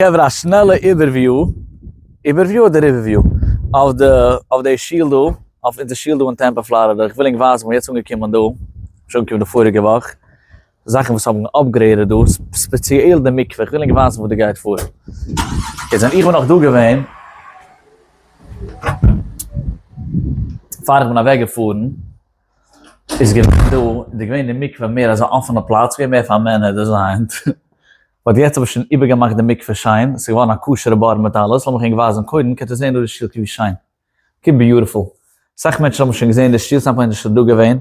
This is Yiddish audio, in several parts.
חברה א שנעלע איבערוויו, איבערוויו אדער ריווערוויו, אויף די אויף די שול דא, אויף אונזער שול דא אין טעמפא פלארידע, איך וויל ענק ווייזן וואס יעצט אנגעקומען דא, נישט אנגעקומען די פאריגע וואך, זאכן וואס האבן אפגרעידעד דא, ספעציעל די מקווה, איך וויל ענק ווייזן וואס דא גייט פאר. איז ווען איך בין נאך דא געווען, פאר איך בין אוועק געפארן, איז געווען דא, איז געווען די מקווה מער אזא אפענע פלאץ, געווען מער פאר מענער, דאס איז היינט. באט יעצט האב איך שוין איבערגעמאכט די מקווה שיין, ס'איז געווארן א כשר'ע בור מיט אלעס, לאמיך ענק ווייזן קודם, קענט איר זען דא די שטילקע ווי שיין, קוק ביוטיפול, אסאך מענטשן האבן שוין געזען די שטיל, ס'איז ענק נישט דא געווען,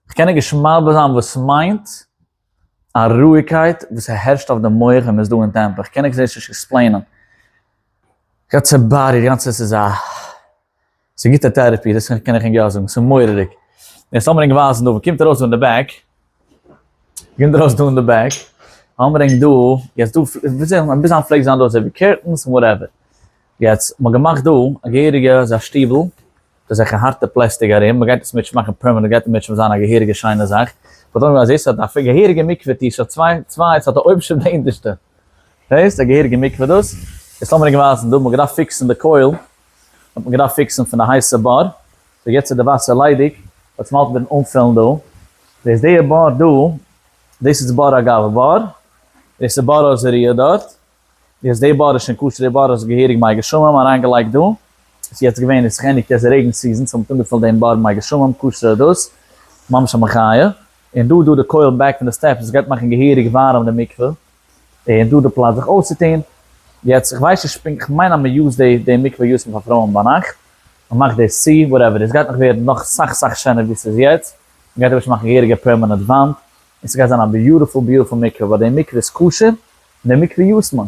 כ'קען ענק נישט מסביר זיין וואס מיינט א רואיגקייט וואס ס'הערשט אויף די מח ווען מ'איז דא אין טעמפל, כ'קען ענק דאס נישט עקספלעינען, גאנצע בור, איר גאנצע עס איז א. ס'איז גוטע טערעפי, דאס קען איך ענק יא זאגן, ס'איז מורא'דיג. און ס'זאל מיר ענק ווייזן דא, וואו קומט ארויס דא אין די בעק? וואו קומט ארויס דא אין די בעק? זאל מיר ענק דא, יעצט דא, וויאזוי זאל מען, ביז היינט פלעגט זיין דא אזוי ווי קערטענס און וואטעווער. יעצט, מ'האט געמאכט דא א געהעריגע אזא שטיבל, אזעלכע הארטע פלעסטיק ארום, מ'גייט דאס מיטש מאכן פערמענענט, גייט מיטש זיין א געהעריגע שיינע זאך. כ'וואלט ענק געוואלט אז דאס האט א געהעריגע מקווה טיש, ס'האט צוויי, צוויי, ס'האט א אויבנשטע און א אונטערשטע. דאס א געהעריגע מקווה דאס איז האט מען געווייזן דא מ'געדארפט פיקסן די קויל האט מען געדארפט פיקסן פון די הייסע באר סאו יעצט איז די וואסער ליידיג יעצט מ'האלט מיטן אנפילן דא דאס די באר דא דאס איז באר אגב באר דאס איז באר עוזריה דארט יעצט די באר איז שוין כשר די באר איז געהעריג מי גשמים אריינגעלייגט דא ס'איז יעצט געווען איז זיך ענדיגט יעצט די רעגן סיזען סאו מ'האט אנגעפילט דעם באר מי גשמים כשר דאס ממש א מחיה. און דא דא די קויל בעק פון די סטעפס וואס גייט מאכן געהעריג ווארעם די מקווה, און דא די פלאץ זיך אויסצוטון, יעצט איך ווייס נישט פונקט כ'מיין אז מען יוזט די די מקווה יוזט מען פאר פרויען ביינאכט, מען מאכט דאס צו, וואטעווער איט איז, גייט נאך ווערן נאך סאך סאך שענער ווי ס'איז יעצט, מען גייט אפשר מאכן געהעריגע פערמענעט וואנט, און ס'גייט זיין א ביוטיפול ביוטיפול מקווה, ווייל די מקווה איז כשר, און די מקווה יוזט מען,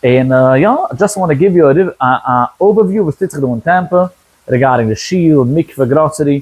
און יא, דזשאסט וואנט גיוו יו א אווערוויו וואס טוט זיך דא אין טעמפע, ריגארדינג די שול, מקווה, גראסערי,